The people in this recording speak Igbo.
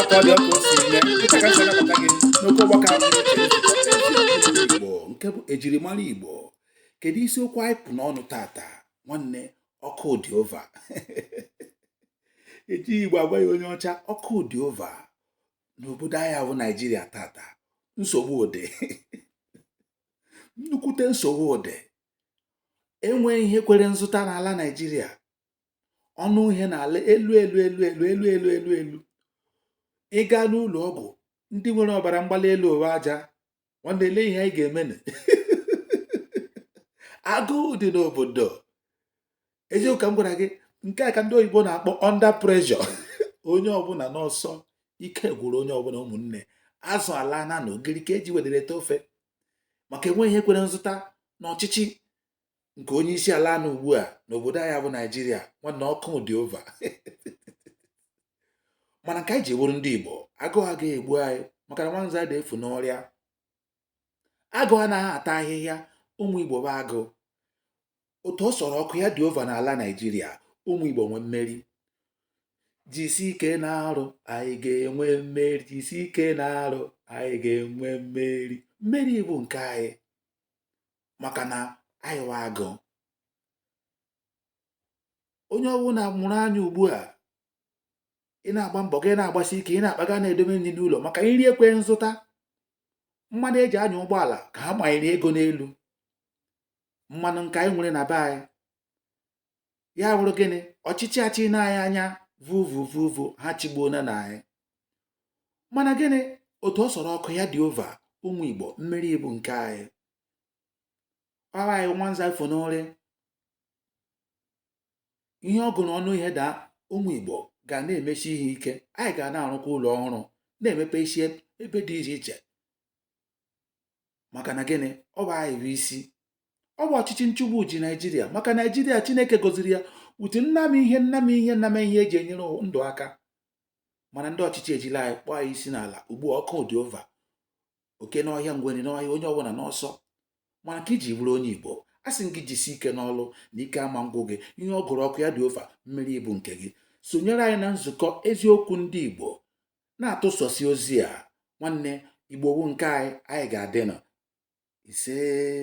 ọkọ dị ọkụ si eme dịka ka si anabata gị n'oke ọgbakọ igbo nke bụ ejirimara igbo kedu isiokwu anyị kpụ n'ọnụ tata nwanne ọkụ dị ova eji igbo agwa ya onye ọcha ọkụ dị ova n'obodo anyị wụ naijiria tata nsogbu dị nnukwute nsogbu dị enweghị ihe kwere nzụta n'ala naijiria ọnụ ihe na-ala elu elu elu elu elu elu elu elu ị gaa n'ụlọ ọgwụ ndị nwere ọbara mgbali elu ụwa aja nwanne ele ihe anyị ga-eme agụụ dị n'obodo eziokwu ka m gwara gị nke a ka ndị oyibo na-akpọ under pressure onye ọbụla n'ọsọ ike gwụrụ onye ọbụla ụmụnne azụ alaana na ogiri ka eji wedere ete ofe maka enweghị ihe kwere nzụta n'ọchịchị nke onye isi ala nọ ugbu a n'obodo anyị bụ naijiria nwanne ọkụ dị ova mana nke anyị ji wụrụ ndị igbo agụụ agaghị egbu anyị maka na nwanza adị efu n'ụrịa agụ anaghị ata ahịhịa ụmụ igbo bụ agụ otu ọ sọrọ ọkụ ya dị ova n'ala naijiria ụmụ igbo nwe mmeri jisi ike na-arụ anyị ga-enwe mmeri jisi ike na-arụ anyị ga-enwe mmeri mmeri bụ nke anyị maka na anyị wụ agụ onye ọbụla mụrụ anya ugbu a ị na-agba mbọ gị na-agbasi ike ị na-akpaga na-edobe nri n'ụlọ maka nri ekwe nzụta mmanụ eji anya ụgbọala ka ha manyere ego n'elu mmanụ nke anyị nwere na be anyị ya wụrụ gịnị ọchịchị achịịna anyị anya vuvu vuvu ha achịgbuona anyị mana gịnị otu ọ sọrọ ọkụ ya dị ova ụmụ igbo mmeri bụ nke anyị ọ wụ anyị nwanza efu n'ụrịa ihe ọ gụrụ ọnụ ihe daa ụmụ igbo ga na-emesi ihe ike anyị ga na-arụkwa ụlọ ọhụrụ na-emepe isi ebe dị iche iche maka na gịnị ọ bụ anyị bụ isi ọ bụ ọchịchị nchịgbu ji naijiria maka naijiria chineke gọziri ya utu nnama ihe nnama ihe nnama ihe eji enyere ndụ aka mana ndị ọchịchị ejila anyị kpọọ anyị isi n'ala ugbu a ọkụ dị ova oke n'ọhịa ngwere n'ọhịa onye ọbụla n'ọsọ mana nke i ji bụrụ onye igbo asị m gị jisi ike n'ọlụ na ike ama ngwụ gị ihe ọ gụrụ ọkụ ya dị ova mmeri bụ nke gị sonyere anyị na nzukọ eziokwu ndị igbo na-atụsasị ozi a nwanne igbo bụ nke anyị anyị ga-adị nọ isee